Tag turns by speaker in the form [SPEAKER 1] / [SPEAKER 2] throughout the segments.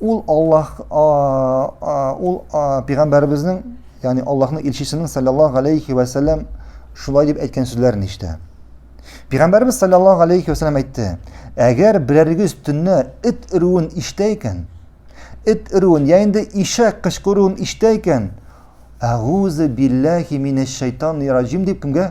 [SPEAKER 1] Ул Аллаһ ул пәйгамбәребезнең, ягъни Аллаһның илчесенең саллаллаһу алейхи ва саллям шулай дип әйткән сүзләрен ишетә. Пәйгамбәребез саллаллаһу алейхи ва саллям әйтте: "Әгәр берәрегез төнне эт өрүен ишетә икән, эт өрүен, я инде ишәк кычкыруын ишетә икән, әгүзу билләһи минәш шайтанир раҗим дип кемгә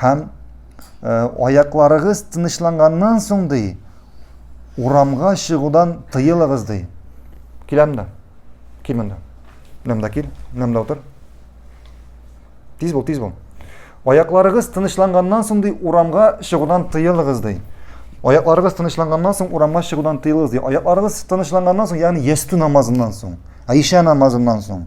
[SPEAKER 1] Һәм аякларыгыз тынычланганнан соң ди, урамга чыгудан тыелыгыз ди. Киләм дә. Кил монда. Монда кил, монда утыр. Тиз бул, тиз бул. Аякларыгыз тынычланганнан соң ди, урамга чыгудан тыелыгыз ди. Аякларыгыз тынычланганнан соң урамга чыгудан тыелыгыз ди. Аякларыгыз тынычланганнан соң, ягъни ястү намазыннан соң, Аиша намазыннан соң.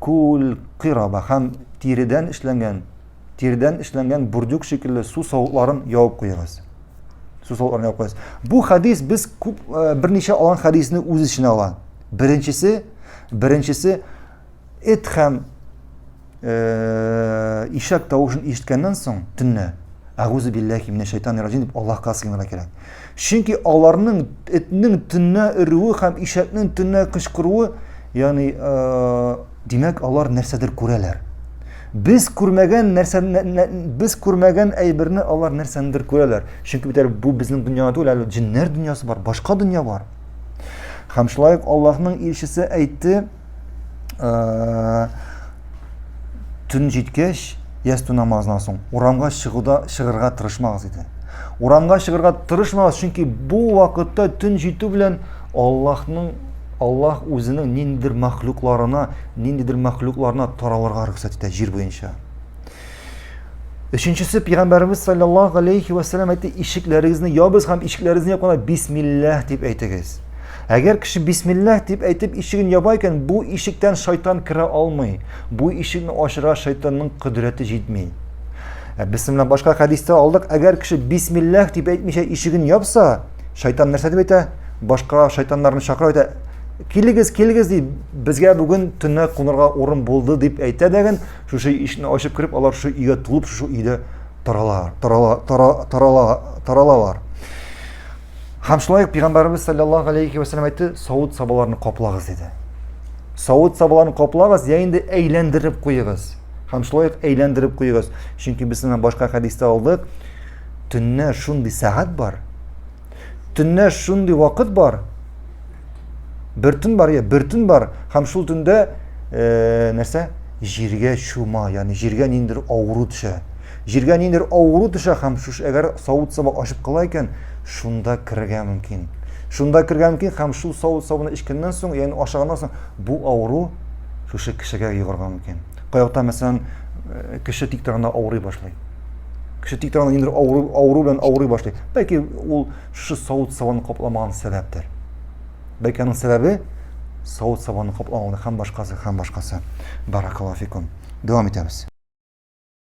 [SPEAKER 1] Күл, кыйраба һәм тиредән эшләнгән, тиредән эшләнгән бурдюк шикелле су савытларын явып куегыз. Су савытларын явып куегыз. Бу хадис без күп э, берничә алган хадисне үз эченә ала. Беренчесе, беренчесе эт һәм э, ишәк тавышын ишеткәннән соң төнне әгүзу билләхи минә шайтан рәҗим дип Аллаһка сыенырга кирәк. Чөнки аларның этнең төннә өрүе һәм ишәкнең төннә кычкыруы, ягъни, э, димәк, алар нәрсәдер күрәләр. Без күрмәгән нәрсә без күрмәгән әйберне алар нәрсәндер күрәләр. Чөнки бит әле бу безнең дөньяда түгел, әле җиннәр дөньясы бар, башка дөнья бар. Һәм шулай ук Аллаһның илчесе әйтте, ә, төн җиткәч ястү намазынан соң урамга чыгуда чыгырга тырышмагыз иде урамга чыгырга тырышмагыз чөнки бу вакытта төн җитү белән аллаһның аллаһ үзенең ниндидер мәхлукларына ниндидер мәхлукларына таралырга рөхсәт итә җир буенча Өченчесе пигамбарыбыз саллаллаһу алейхи ва саллям әйтте, ишекләрегезне ябыз һәм ишекләрегезне япканда бисмиллаһ дип әйтегез. Әгәр кеше бисмиллаһ дип әйтеп ишеген яба икән, бу ишектән шайтан керә алмый. Бу ишекне ачырга шайтанның кодрәте җитми. Ә без менә башка хәдистә алдык, әгәр кеше бисмиллаһ дип әйтмичә ишеген япса, шайтан нәрсә дип әйтә? Башка шайтаннарны чакыра әйтә, килегез, килегез ди, безгә бүген төнлә кунырга урын булды дип әйтә дәген, Шушы ишекне ачып кереп, алар шушы өйгә тулып, шушы өйдә таралалар, тарала, тара, тарала, таралалар. Һәм шулай ук Пәйгамбәребез саллаллаху алейхи ва саллям әйтте, савыт сабаларны каплагыз диде. Савыт сабаларны каплагыз, я инде әйләндереп куегыз. Һәм шулай ук әйләндереп куегыз, чөнки без сезнең башка хәдистә алдык, төнне шундый сәгать бар, Төннә шундый вакыт бар, бер төн бар, я, бер төн бар, һәм шул төндә э, нәрсә? Җиргә чума, ягъни җиргә ниндер авыру төшә. Җиргә ниндер авыру төшә һәм шуш әгәр савыт саба ачып кала икән, шунда керергә мөмкин. Шунда керергә мөмкин һәм шул савыт сабыны эчкәннән соң, ягъни ашаганнан соң бу авыру шушы кешегә йогырга мөмкин. Кайвакыта мәсәлән, э, кеше тик торганда авырый башлый. кеше тик торганда ниндидер авыру, авыру белән авырый башлый. Бәлки ул шушы савыт сабаны капламаган сәбәптер. Бәлки аның сәбәбе савыт сабаны капламау һәм башкасы һәм башкасы. Баракаллафикум. Дәвам итәбез.